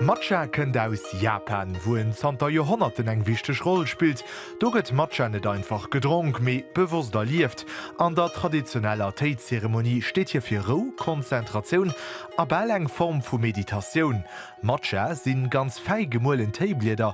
Matcha kënnt aus Japan, wou en zanter Joerhonnerten eng wichteg Roll spillt. Do gëtt Matcha net einfach gedronk, mee bewosst erlieft. An der traditioneller Téi-Zeremonie steet hie fir Rou, Konzentratioun a bal eng Form vu Meditatioun. Matcha sinn ganz fäi gemuelen Téiblieder,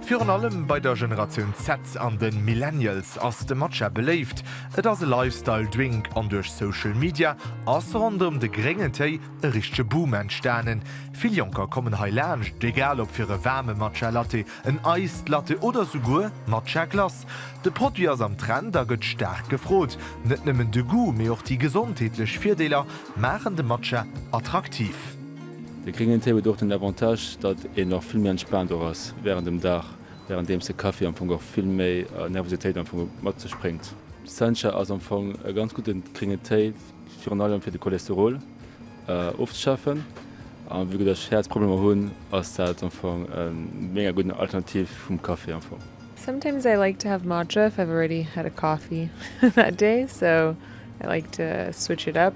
Virun allem bei der Generatioun Z an de Millennials ass de Matcha beléift. Et ass e Lifestyle Drink an duerch Social Media ass ronderëm de gréngen Téi e richtege Boom entstanen. Vill Jonker kommen hei laanscht, egal ob fir e waarme Matcha Latte, en Iced Latte oder souguer Matcha Glace. De Produit ass am Trend a gëtt staark gefrot. Net nëmmen de Goût, mee och déi gesondheetlech Virdeeler maachen de Matcha attraktiv. De gréngen Téi huet och den Avantage, datt een och vill méi entspaant och ass wärend dem Dag, wärenddeems de Kaffi am Fong och vill méi Nervositéit am Fong mat sech bréngt. Sencha ass am Fong e ganz gudde gréngen Téi, virun allem fir de Cholesterol ofzeschafen. A vu datt ech Häerzproblemer hunn, ass dat am Fong e méga gudden Alternativ vum Kaffi am Fong. Sometimes I like to have matcha if I've already had a coffee that day, so I like to switch it up.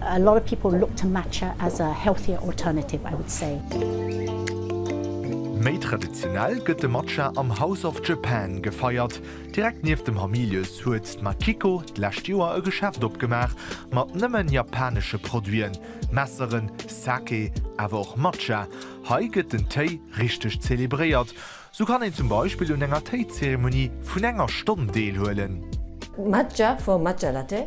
A lot of people look to Matcha as a healthier alternative, I would say. Méi traditionell gëtt de Matcha am House of Japan gefeiert. Direkt nieft dem Hamilius huet d'Makiko d'lescht Joer e Geschäft opgemaach mat nëmmen japanesche Produiten, Messeren, Sake, awer och Matcha. Hei gëtt den Téi richteg zelebréiert, sou kann een zum Beispill un enger Téizeremonie vun enger Stonn deelhuelen. Matcha for Matcha Latte,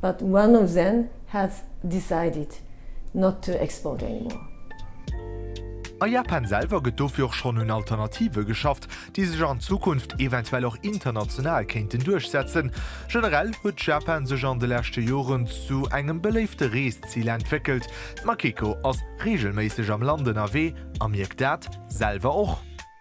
But one of them has decided not to export anymore. A Japan selwer gëtt dofir och schonn un Alternative geschafft, déi sech an Zukunft eventuell och international kéinten duerchsetzen. Generell huet Japan sech an de leschte Joren zu engem beléifte Reeszil entwéckelt. D'Makiko ass reegelméisseg am Land ënnerwee a mierkt dat selwer och.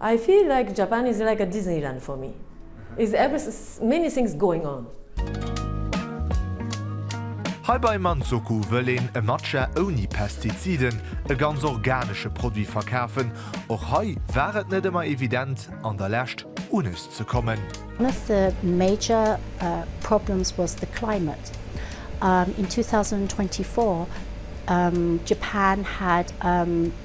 I feel like Japan is like a Disneyland for me, is every many things going on. Hei bei Manzoku wëll een e Matcha ouni Pestiziden, e ganz organesche Produit verkafen. Och hei war et net ëmmer evident an der Lescht unis ze kommen. One of the major problems was the climate. In 2024 Japan had.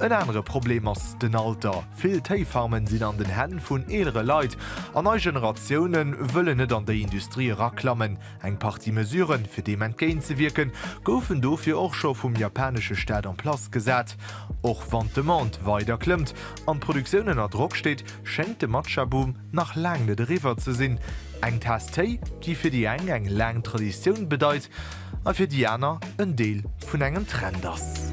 En anere Problem ass den Alter. Vill Téifarmen sinn an den Hänn vun eelere Leit an nei Generatioune wëllen net an déi Industrie eraklammen. Eng Partie Mesuren, fir deem entgéintzewierken, goufen dofir och scho vum japanesche Staat en place gesat. Och wann d'Demande weider klëmmt an d'Produktioun ënner Drock steet, schéngt de Matcha-Boom, nach laang net eriwwer ze sinn, eng Taass Téi, déi fir déi eng eng laang Traditioun bedeit a fir déi aner en Deel vun engem Trend ass.